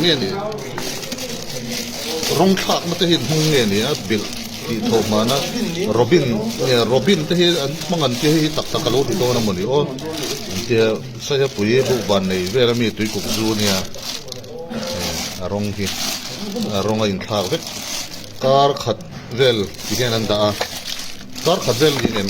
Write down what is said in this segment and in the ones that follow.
nge ni rawng thlak na te hi hmang nge ni a bil ti tho man a robin nge robin te hi an hmang an ti hi tak tak alo ti dawn a mawni aw ti sai a pui bu ban nei vel a mi tui kuk zu nia a rawng hi a rawng a in thlak vek kar khat vel ti hian an dah a kar khat vel niin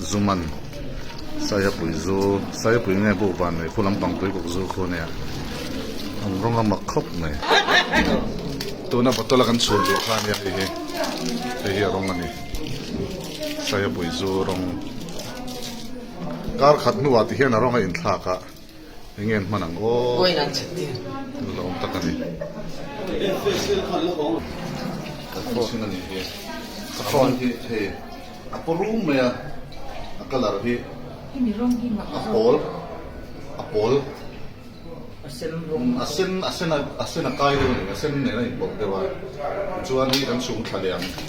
Zuman, Saiapui Zu, Saiapui nge buk van mai phu lampang Tuikuk Zu khu nia an rawn la mak khawp mai. Tuna bottle a kan chhun duh kha nia hei hi, hei hi a rawng a ni. Saiapui Zu rawng. Kar khat hnuah ti hian a rawng a inthlak a. Eng nge an hman ang aw la awm tak a ni. Ka phone a nih hi. Ka phone hi hei a paw rum mai a, a colour hi a pawl a pawl a sen a sen a sen a kai deuh a ni a sen nena inpawlh deuh a tichuan hei kan chhungthla liam.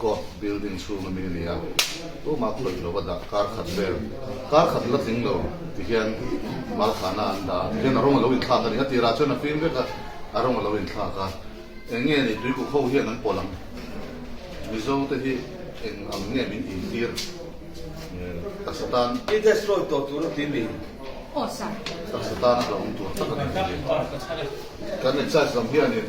Court building chhung ami a ni a, tumah khawih lova dah kar khat vel, kar khat la tling lo ti hian Malkhana an dah a, ti hian a rawng a lo inthlak a ni. A tirah chuan a fim vek a, a rawng a lo inthlak a, eng nge ni tuikuk ho hian an pawlh ang, Mizo te hi eng ang nge min intîr taksa tan? I destroy tawh tur a ti mi? Taksa tan a kalawng tur tak a ni. Kan excise lam hianin.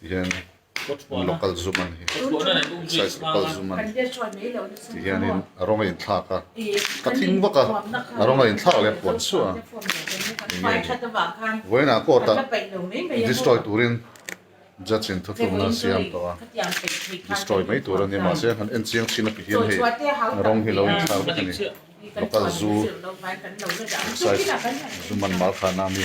Tihian local zum ani size local zum ani tihianin a rawng a in thlak a ka thing vak a a rawng a in thlak leh a puan suah a eng nge ni vawiin a court ah destroy turin judge in thuthluk nan siam tawh a destroy mai tur ania mahse han en chiang thin a ti hian hei a rawng hi a lo in thlak vek ani local zu size zum an mal khan a mi.